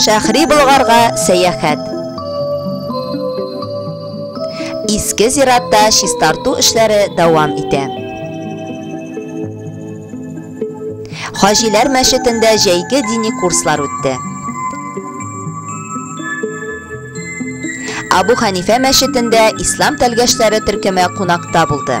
Шәхри Болгарга сәяхәт. Иске зиратта чистарту эшләре дәвам итә. Хаҗиләр мәчетендә җәйге дини курслар үтте. Абу Ханифә мәчетендә ислам тәлгәшләре төркеме кунакта булды.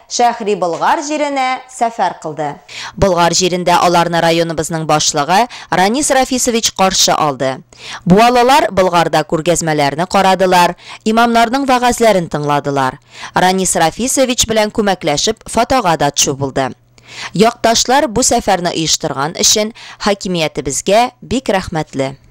Шәһри Болгар җиренә сәфәр кылды. Болгар җирендә аларны районыбызның башлыгы Ранис Рафисович каршы алды. Буалылар Болгарда күргәзмәләрне карадылар, имамнарның вәгазьләрен тыңладылар. Ранис Рафисович белән күмәкләшеп фотога да тчу булды. Якташлар бу сәфәрне оештырган өчен хакимиятебезгә бик рәхмәтле.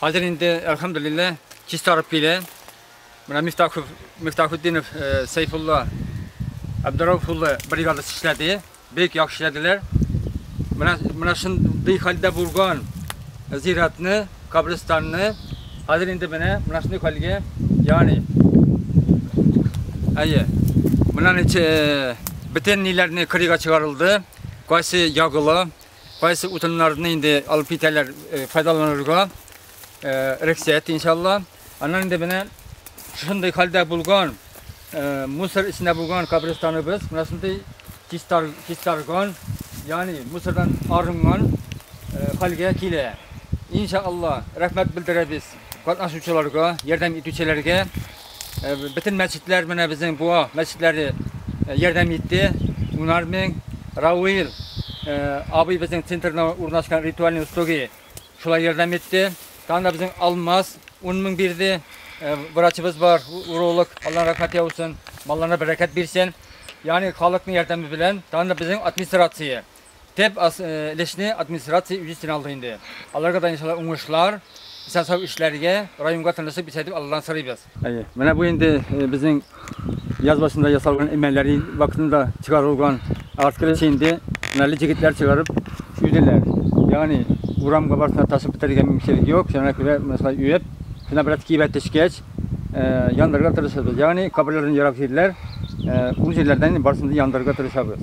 Хәзер инде, әлхәмдүлилләһ, чистарып килә. Менә Мифтахов, Мифтахутдинов, Сәйфулла, Абдурауф улы бригадасы эшләде. Бик яхшы эшләделәр. Менә, менә шундый хәлдә булган зиратны, кабристанны хәзер инде менә, менә шундый хәлгә, ягъни, әйе, менә ничә бөтен ниләрне кырыйга чыгарылды, кайсы ягыла, Кайсы утыннарны инде алып китәләр э, файдаланырга э, рөхсәт иншалла. Аннан инде менә шушындый хәлдә булган э, мусор эчендә булган кабристаныбыз менә шундый чистар, чистарган, ягъни мусордан арынган хәлгә килә. Иншалла, рәхмәт белдерәбез катнашучыларга, ярдәм итүчеләргә. Э, бөтен мәчетләр менә безнең буа мәчетләре э, ярдәм итте. Унар мең Рауил э, абый безнең центрда урнашкан ритуальный устоги шулай ярдәм итте. Тагын да безнең Алмаз 10 мең бирде. Врачыбыз бар, уролог, Аллаһ рәхмәт яусын, малларына бәрәкәт бирсен. Ягъни халыкның ярдәме белән, тагын да безнең администрация Төп өлешне администрация үз өстенә алды инде. Аларга да иншалла уңышлар, исән-сау эшләргә, районга тынычлык бирсә дип Алладан сорыйбыз. Әйе, менә бу инде безнең яз башында ясалган эмәлләре вакытында чыгарылган. Арт өлешне инде һөнәрле җегетләр чыгарып өйделәр. Ягъни урамга барсына ташып бетерергә мөмкинчелек юк, шуңа күрә менә шулай өеп, шунда бераз кибә төшкәч, яндырырга тырышабыз. Ягъни каберләрдән ерак җирләр, ул җирләрдән барысын да яндырырга тырышабыз.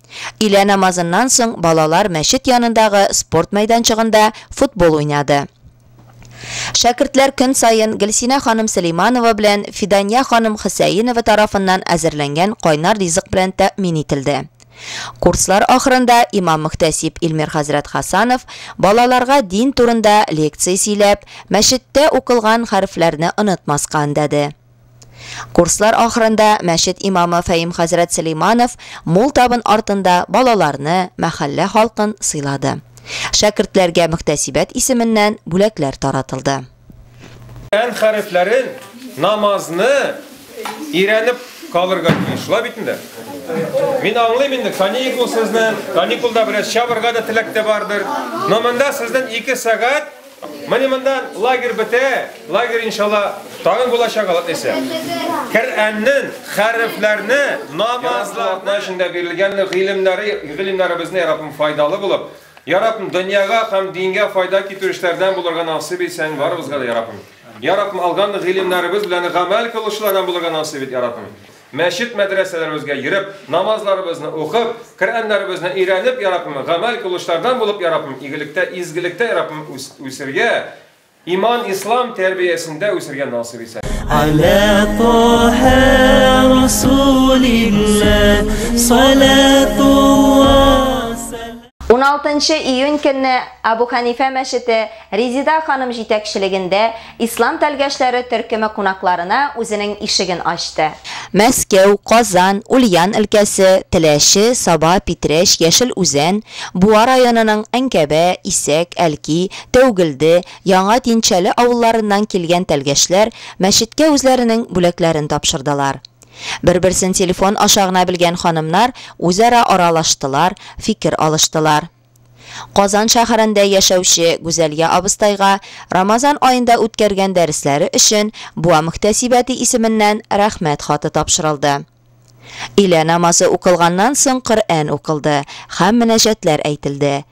Илә намазыннан соң балалар мәчет янындагы спорт мәйданчыгында футбол уйнады. Шәкертләр көн саен Гөлсинә ханым Сөләйманова белән Фидания ханым Хөсәенова тарафыннан әзерләнгән кайнар ризык белән тәэмин ителде. Курслар ахырында имам-мөхтәсиб Илмир хәзрәт Хасанов балаларга дин турында лекция сөйләп, мәчеттә укылган хәрефләрне онытмаска өндәде. Курслар ахырында мәчет имамы Фәим хәзрәт Сөләйманов мул табын артында балаларны, мәхәллә халкын сыйлады. Шәкертләргә мөхтәсибәт исеменнән бүләкләр таратылды. Коръән хәрефләрен, намазны өйрәнеп калырга тиеш, шулай бит инде? Мин аңлыйм инде, каникул сезнең, каникулда бераз чабырга да теләк тә бардыр. Но монда сезнең ике сәгать Менә мондан лагерь бетә, лагерь иншалла тагын булачак алып исә. Коръәннең хәрефләрне, намазларны эчендә бирелгән гыйлемнәре, гыйлемнәре безне ярабым файдалы булып, ярабым дөньяга һәм дингә файда китерүчеләрдән булырга насыйп ит сән барыбызга да ярабым. Ярабым алган гыйлемнәребез белән гамәл кылучылардан булырга насыйп ит ярабым. Мәчет-мәдрәсәләребезгә йөреп, намазларыбызны укып, Коръәннәребезне өйрәнеп, йа Раббым, гамәл кылучылардан булып, йа Раббым, игелектә, изгелектә, йа Раббым, үсергә, иман, ислам тәрбиясендә үсергә насыйп ит, амин. Аля Таһа Расулиллаһ салатуллаһ. 16 нчы июнь көнне Әбү Хәнифә мәчете Резида ханым җитәкчелегендә Ислам тәлгәшләре төркеме кунакларына үзенең ишеген ачты. Мәскәү, Казан, Ульян өлкәсе, Теләче, Саба, Питрәч, Яшел Үзән, Буа районының Әнкәбә, Исәк, Әлки, Тәүгелде, Яңа Динчәле авылларыннан килгән тәлгәшләр мәчеткә үзләренең бүләкләрен тапшырдылар. Бер-берсен телефон аша гына белгән ханымнар үзара аралаштылар, фикер алыштылар. Казан шәһәрендә яшәүче Гүзәлия абыстайга Рамазан аенда үткәргән дәресләре өчен Буа мөхтәсибәте исеменнән Рәхмәт хаты тапшырылды. Илә намазы укылганнан соң Коръән укылды һәм мөнәҗәтләр әйтелде.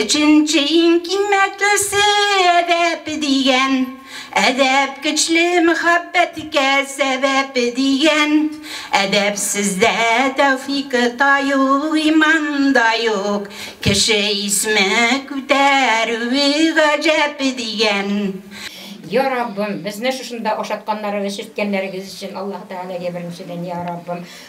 Өченче иң киммәтлесе, әдәп дигән. Әдәп көчле мөхәббәткә сәбәп дигән. Әдәпсездә тәүфик та юк, иман да юк. Кеше исме күтәрүе гаҗәп дигән. Йа Раббым, безне шушында ашатканнарыгыз, сөрткәннәрегез өчен Аллаһы Тәгаләгә беренчедән, Йа Раббым,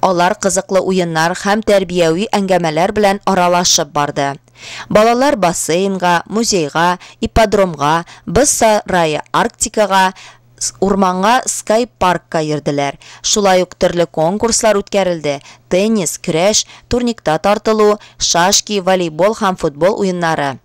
Алар кызыклы уеннар һәм тәрбияви әңгәмәләр белән аралашып барды. Балалар бассейнга, музейга, ипподромга, боз сарае Арктикага, урманга Скай-паркка йөрделәр. Шулай ук төрле конкурслар үткәрелде, теннис, көрәш, турникта тартылу, шашки, волейбол һәм футбол уеннары.